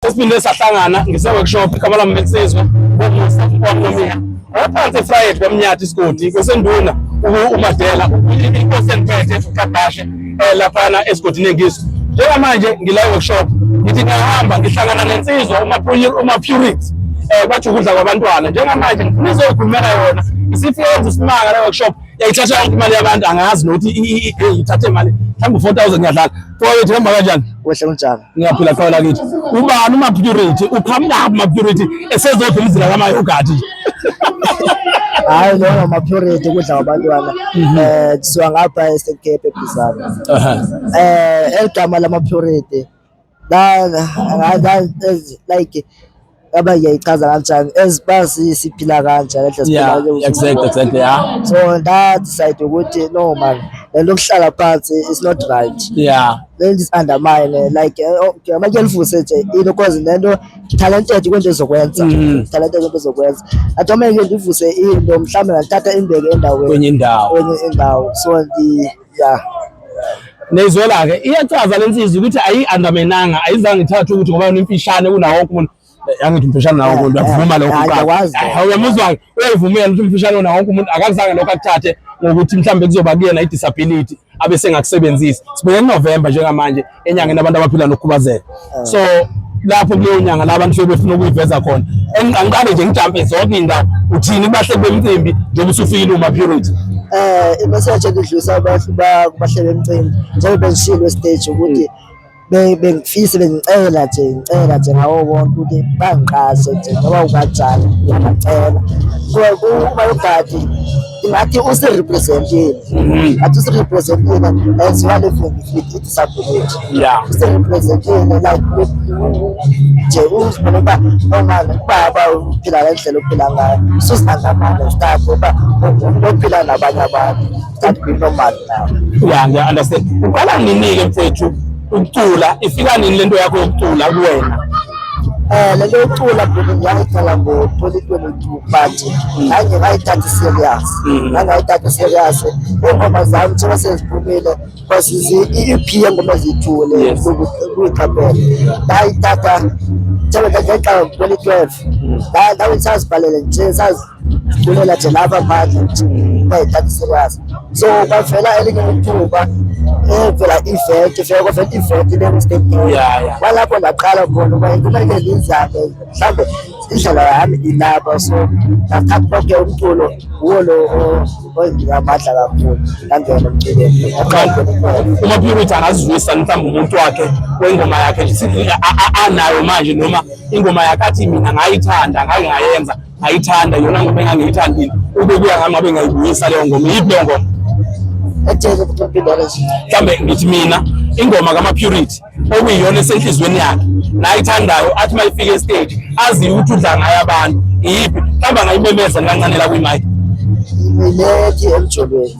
Sesiphinde sahlangana ngise-workshop igama lami bensizwa kwamusakukwamnomia ngaphansi efrayed kwamnyathi isigodi kwesenduna umadela inkosi endiphethe ukadashe um eh, laphana esigodini engiso njengamanje ngila workshop ngithi ngiyahamba ngihlangana nensizwa umapurity um bathi ukudla kwabantwana njengamanje ngifuna izoyikhulumela yona isifike yenza isimanga le workshop yayithatha yonke imali yabantu angazi nokuthi ithathe imali mhlawumbe u-four thousand ngiyadlala fowethu hamba kanjani wehle kunjalo Ngiyaphila qhawe lakithi. Ubani uma purity? Uqhamuka uma purity esezodla umzila kamayogati nje. Hayi lo ngama purity kudla abantwana. Mhm. Eh kusuka ngapha esekepe bizana. Eh eligama lama purity. La like aba ngiyayichaza kanjani as uba siphila kanjani endlela siphila yeah ngayo. exactly exactly yeah so ndadecide ukuthi no man le nto yokuhlala phansi is not right yeah le nto is undermine like eh, oh, okay, amanye elifuse nje into cause le nto talented kwento ezokwenza Mhm. talented kwento ezokwenza atomeke ndivuse into mhlawumbe ndithatha imbeke endaweni kwenye indawo kwenye indawo so ndi yeah neyizwela-ke iyachaza le nsizwa ukuthi ayi-andamenanga ayizange ithathe ukuthi ngoba yona imfishane kunawo wonke umuntu yangithi umfishane nawo umuntu akuvuma lokho kuqala uyamuzwa-ke uyayivumela ukuthi umfishane nawo wonke umuntu akakuzange lokho akuthathe ngokuthi mhlawumbe kuzoba kuyena i-disability abe sengakusebenzisi sibheke kunovemba njengamanje enyangeni abantu abaphila nokukhubazeka ah. so lapho kuleyo nyanga la abantu befuna ukuyiveza khona engiqanqane nje ngijampe zonke iy'ndawo uthini bahle bemcimbi njengoba usufikile uma purity eh imeseji engidlulisa abantu bahle bemcimbi njengoba bengishilo estage ukuthi bengifise bengicela nje ngicela nje ngawo wonke ukuthi bangiqashe nje ngoba unganjani ngiyabacela kuba yogadi ngathi usirepresentile mm-hmm. ngathi usirepresentile as well if ngifike disability yeah usirepresentile like nje uzibona uba omama ubaba uphila ngendlela ophila ngayo ususinangamane start uba ophila nabanye abantu start be normal now yeah ngiya understand uqala nini-ke mfethu ukucula ifika nini lento yakho yokucula kuwena Eh le leo cula bhuti ngiyayithala ngo-2022 but ngangye ngayithatha serious ngangayithatha serious ingoma zami njengoba seziphumile because i-ep yengoma ziyithule kuyiqaphela ngayithatha njengoba ngayixaka ngo-2012 ngawuthi sazibhalele nje kulela nje laba manje ukuthi bayidlalisekazi so kwavela elinye ithuba evela iventi vele kwavela iventi lengistadium kwalapho ndaqala khona uba kumele lizame mhlawumbe indlela yami ilapha so ngathatha konke umculo wuwo lo owenginika amandla kakhulu ngangena emculweni uma purity angazizwisa mhlawumbe umuntu wakhe wengoma yakhe anayo manje noma ingoma yakhe athi mina ngayithanda ngake ngayenza ayithanda yona ngoma engangiyithandile ube kuya ngami abe ngayibuyisa leyo ngoma yiphi leyo ngoma ejele kumpindana nje mhlambe ngithi mina ingoma kama-purity okuyiyona esenhliziyweni yakhe nayithandayo athi uma ifike estage aziyo ukuthi udla ngayo abantu iyiphi mhlawumbe angayimemeza nikancane la kwimike imilethi emjolweni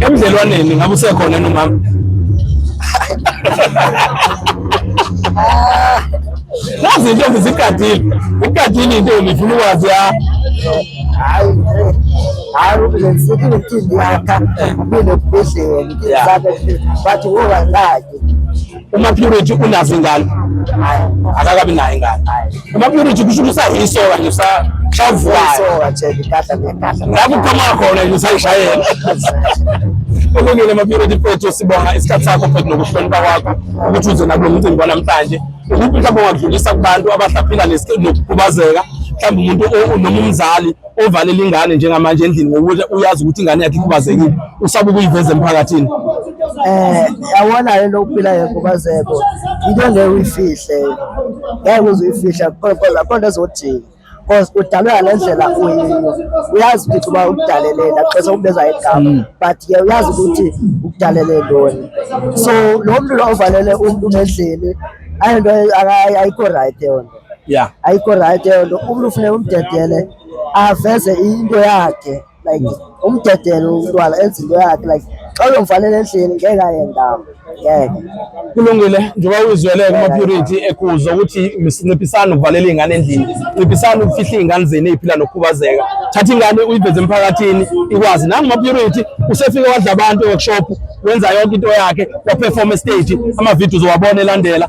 Emdlelwaneni ngabe usekhona yini umama? Nazi intombi zigadile. Ugadile intombi ifuna ukwazi ya. Hayi. Hayi ulenzithi ngithini yakha mina kubhedlela ngizame bathi woba ngaki. Uma purity unazo ingane akakabi nayo ingane. Uma purity kusho ukuthi usayisoka nje usa shavukayo. Lapho uphuma khona nje usayishayela. Ukulungile ama purity photo sibonga isikhathi sakho futhi nokuhlonipha kwakho ukuthi uze nakulo mcimbi wanamhlanje. Ukuphi mhlawumbe ungadlulisa kubantu abahlaphila nesikhubazeka mhlawumbe umuntu noma umzali ovalela ingane njengamanje endlini ngokuthi uyazi ukuthi ingane yakhe ikhubazekile usaba ukuyiveza emphakathini eh yawona le lokuphila yekhubazeko into ngeke uyifihle ngeke uze uyifihla kodwa kodwa ezodinga because udalwe ngale ndlela uyiyo uyazi ukuthi uba ukudaleleni axesa ukubeza igama mm. but ke uyazi ukuthi ukudalele ntoni so lo mntu lo ovalele umntu ngendlini ayinto ayikho right yona yeah ayikho right eyo nto umntu ufuneka umdedele aveze into yakhe like umdedele umntwana enze into yakhe like xa uyomfanele endlini ngeke ayendama ngeke kulungile njengoba uyizwele kuma-purity ekuzo ukuthi nciphisani ukuvalela iy'ngane endlini nciphisani ukufihla iy'ngane zenu ey'phila nokukhubazeka thatha ingane uyiveze emphakathini ikwazi nanguma-purity usefike wadla abantu e-workshop wenza yonke into yakhe waperforma estage ama-videos owabona elandela